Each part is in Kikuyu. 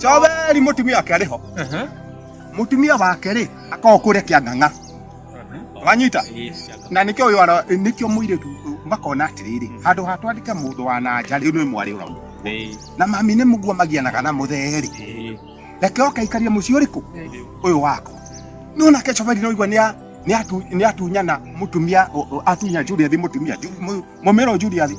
Joveri mutumia wake ariho mutumia wake ri akokure kiang'ang'a wanyita na nikio uyu ara nikio muiritu makona atiriri handu ha twandike mundu wa na nja riu ni mwari uramu na mami ni mugua magianaga na mutheri reke oke aikarie mucii uriku uyu waku no nake Joveri no igua ni a- ni atu- ni atunyana mutumia o- o- atunya Juliathi mutumia Ju- mu- mumero Juliathi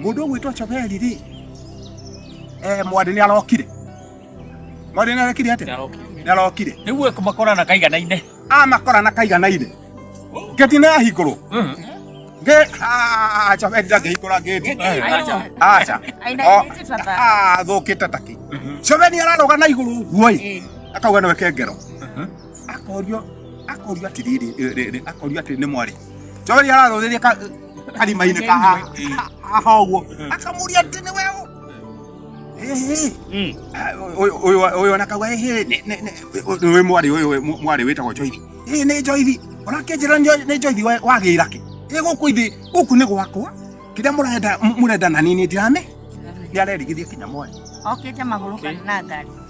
Mũndũ ũgwĩtwo Cobeli rĩ, eh, mwathi nĩ arokire. Mwathi nĩ arekire atĩa? Nĩ arokire. Nĩguo kũmakorana kaiganaine. Amakorana kaiganaine. Ngeti nĩ yahingũrwo. Nge ah, Cobeli ndangĩhingũra ngeti. Aca. Athũkĩte taki. Cobeli ararũga na igũrũ ũguo-ĩ. Akauga nĩwe kengero. akorio akorio ati riri riri akorio ati ni mwari jori araruriria ka karima-inĩ ka haha ũguo akamuria atĩ nĩ weũ ũyũ ona kauga wĩ mwarĩ ũyũ mwarĩ wĩtagwo njoithi ĩ nĩ njoithi ũrakĩnjĩra nĩ njoithi wagĩra kĩ ĩ gũkũ ithĩ gũkũ nĩ gwakwa kĩrĩa mũrenda mũrenda na niĩ nĩ ndirame nĩ arerigithia kinya mwarĩ okĩte magũrũ kana na ngari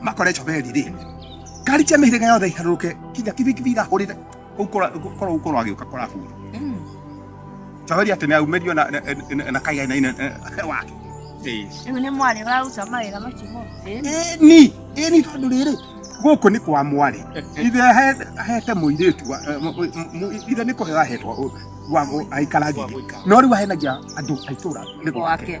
makore coberi rĩ ngari cia mĩhĩrĩga yothe iharũrũke kinya kibikibi irahũrĩre kũu korwo korwo agĩũka kũrahura coberi atĩ nĩ aumĩrio na- na- na- na kaigainaine wake Rĩu nĩ mwarĩ ũraruta mawĩra macio mothe. ni ni tondå rä rä gå kå nä kwa mwarä ithe ahe- ahete må irä tu ithe nä kå heo ahetwo aikaragia no rä u ahenagia andå aitå ra nä gwake Gwake.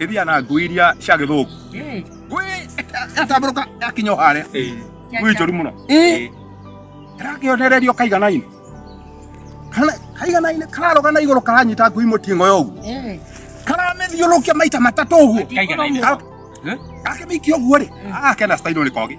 ĩthiaga na ngui iria cia gĩthũngũ ngui ĩgatambũrũka yakinya o harĩa ngui njũru mũno Ĩ, ĩrakĩonererio kaigana-inĩ Kana- kaigana-inĩ kararũga na igũrũ karanyita ngui mũting'o ya ũguo karamĩthiũrũkia maita matatũ ũguo Kaigana-inĩ. Ka- akĩmĩikia ũguo rĩ agakena stairũ nĩ kogi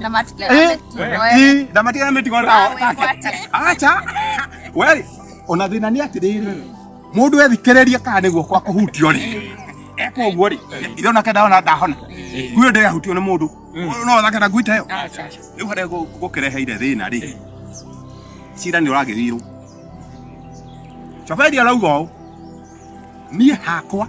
Na matikio Eh, yametua, eh. ii, na matikio yametua rao. Awe, kwate. Acha. Weri, ona thina ni atiriri. Mundu ethikiririe kana niguo kwa kuhutio ri. Eko guo ri. Ithe ona kenda ona ndahona. Kuyo ndega hutio ni mundu. No thake na ngwita yo. Acha. Riu hare gukireheire thina ri. Cira ni uragithirwo. Chabedi arauga ũũ. Niĩ hakwa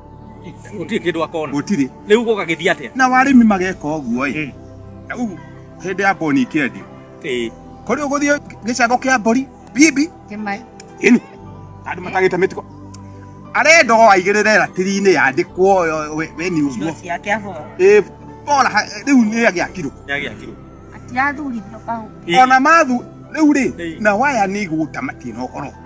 gutire kindu akona gutire riu guka githi atia na warimi mageka uguo i hmm. na u hindi ya boni kiendi eh kori uguthi gicago kia mbori bibi kimai ini andu matagite mitiko arenda o aigirire ratiri-inĩ yandĩkwo we ni ũguo ĩ bora rĩu nĩ agĩakirwo ona mathu rĩu rĩ na waya nĩ igũta matirĩ na ũhoro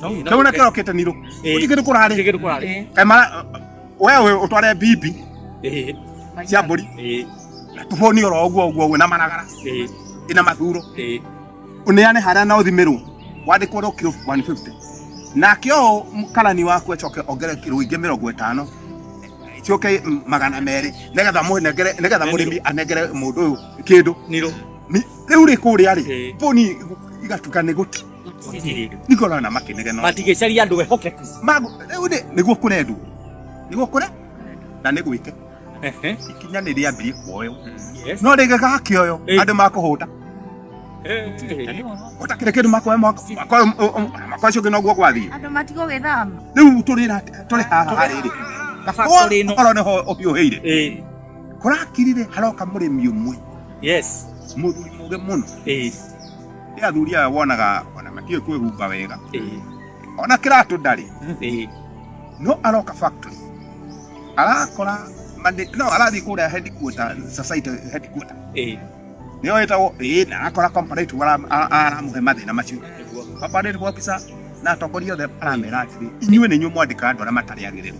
Kĩmwana kĩao kĩte nirũ. Ũti kĩndũ kũrarĩ. Kĩndũ kũrarĩ. Kaimara wewe ũtware bibi. Cia mbũri. Tũboni oro ũguo ũguo ũguo na maragara. Ina mathuro. Uneane harĩa na ũthimĩrwo. Wandĩkwo ro kiro 150. Nake ũũ karani waku acoke ongere kiro ingĩ mĩrongo ĩtano cioke magana merĩ nĩgetha mũnengere nĩgetha mũrĩmi anengere mũndũ ũyũ kĩndũ rĩu rĩ kũrĩa rĩ mbũni igatuka nĩ gũti niko na makinege no matigĩcaria andũ ehokeku magu rĩu nĩ nĩguo kũre ndu nĩguo kũre na nĩ gwĩke Ehe. ikinya nĩ rĩambirie kuoyo Yes. no rĩngĩ gakĩoyo Eh. andũ makũhũta Eh. ũtakĩrĩ kĩndũ makoya mwaka mwaka ũcio ũngĩ noguo gwathiĩ Andũ matigwo gwĩthama. rĩu tũrĩra tũrĩ haha rĩrĩ Factory ĩno. korwo nĩho ũhiũhĩire Eh. kũrakirire haroka mũrĩmi ũmwe Yes. mũthuri mũge mũno Eh. Nĩ athuri aya wonaga ona matiũĩ kwĩhumba wega. Ona kĩratũ ndarĩ. No aroka factory. Arakora mandi no arathiĩ kũrĩa headquarter society headquarter. Nĩyo ĩtagwo ĩĩ na arakora comparative ara- ara- aramũhe mathĩna macio. Comparative officer na atongoria othe aramera atĩrĩ inyuĩ nĩ inyuĩ mwandĩkaga andũ arĩa matarĩ agĩrĩru.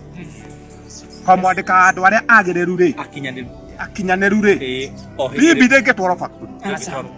Kwa mwandĩkaga andũ arĩa agĩrĩru rĩ akinyanĩru rĩ bibi ndĩngĩtwarwo factory.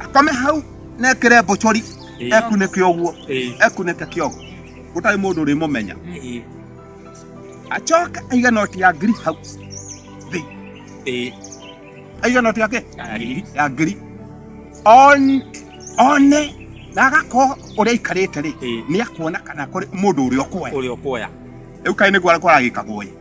akome hau nekire mbochori Ĩĩ. ekunike uguo Ĩĩ. ekunike kiogo gutari mundu urimumenya Ĩĩ. acoke aige noti ya ngiri hau thi Ĩĩ. aige noti yake Ya ngiri. ya ngiri On- one na agakorwo uria aikarite ri Ĩĩ. ni akuona kana kuri mundu uria ukuoya Ũrĩa ũkuoya. riu kai niguo aragikagwo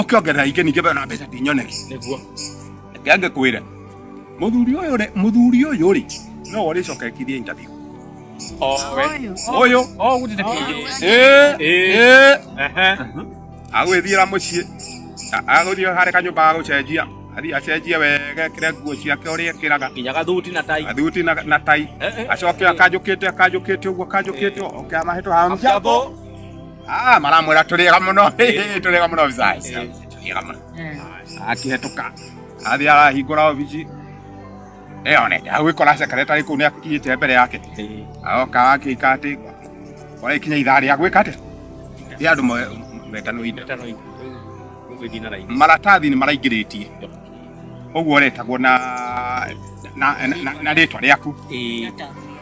ukiongerera ingĩ ningĩ bado na mbeca ndinyone nĩguo reke angĩkwĩra mũthuri ũyũ rĩ mũthuri ũyũ rĩ no ũrĩcokekithie interview Ũyũ. ũyũ o gũtete kĩngĩ Eh, eh. agwĩthiĩra mũciĩ A- agũthiĩ harĩ kanyũmba ga gũcenjia athiĩ acenjie wega ekĩre nguo ciake ũrĩa ekĩraga nginya gathuti na tai athuti na na tai Eh, eh. acoke akanjũkĩte akanjũkĩte ũguo akanjũkĩte oke amahĩtwo ha Mjambo. Ah, maramwira turiga muno turiga muno bizaisi turiga muno akihetoka athi arahingura obici ĩyo nende agwĩkora secretary kũu nĩ akinyĩte mbere yake aoka akĩika atĩ ona ikinya ithaa rĩa gwĩka atĩ rĩa andũ me- metano indo maratathi nĩ maraingĩrĩtie ũguo ũretagwo na na- na- na rĩtwa rĩaku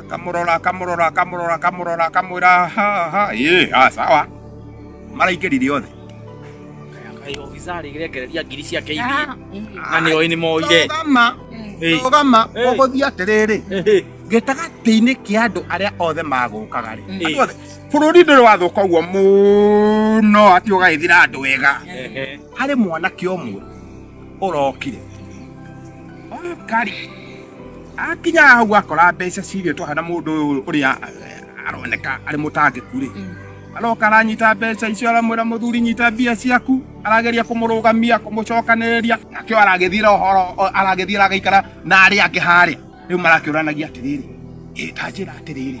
akamurora akamurora akamurora akamurora akamwira ha ha ye ah sawa mara ikerire othe iregereria ngiri ciake Ah, na nä oä nä moire rugama Eh. rugama Eh. ũgũthiĩ atĩrĩrĩ Eh, gĩtagatĩ-inĩ kĩa andũ arĩa othe magũkaga rĩ Mm. andũ othe bũrũri ndũrĩ wathũka ũguo mũno atĩ ũgagĩthira andũ wega eh, eh. harĩ mwanake ũmwe ũrokire kari akinya hau akora mbeca cirio twahana mundu uyu uria aroneka ari mutangiku ri mm. aroka aranyita mbeca icio aramwira muthuri nyita mbia ciaku arageria kumurugamia kumucokaniria nakio aragithira horo aragithira agaikara na ari angi haria riu marakiuranagia atiriri ita njira atiriri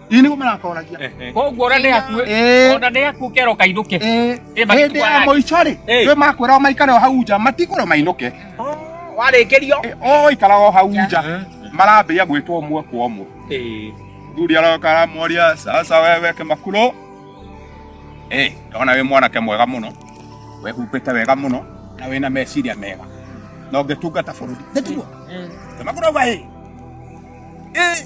Ini nĩguo marakoragia koguo ona nĩ akue Eh. ona nĩ akue kero kainũke Eh, Eh, baki hĩndĩ ya twara. mũico-rĩ Eh. nĩ makwĩra maikare o hau nja matikũrwo mainũke warĩkĩrio Eh, o ikara o hau nja marambĩia gwĩtwo ũmwe kwa ũmwe Eh. thuri aroka aramoria sasa wewe kimakuro eh ndona wĩ mwanake mwega mũno wehumbĩte wega mũno na wĩna meciria mega na ũngĩtungata bũrũri nĩtiguo kimakuro auga ĩ ĩ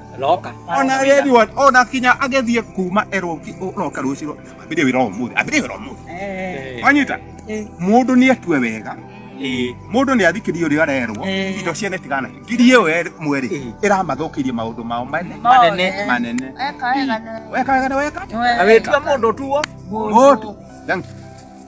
roka ona Edward ona kinya agethie kuma erwo ki- roka rucio ambire wira umuthi ambire wira umuthi Eh. wanyita Eh. mundu ni atue wega Eh. mundu ni athikirie uria arerwo Eh. indo ciene tigana ngirie we mweri Eh. iramathukirie maundu mao mane Manene. manene Eka wega na weka wega na weka Wewe. Awetua mundu tuo. Mutu. Thank you.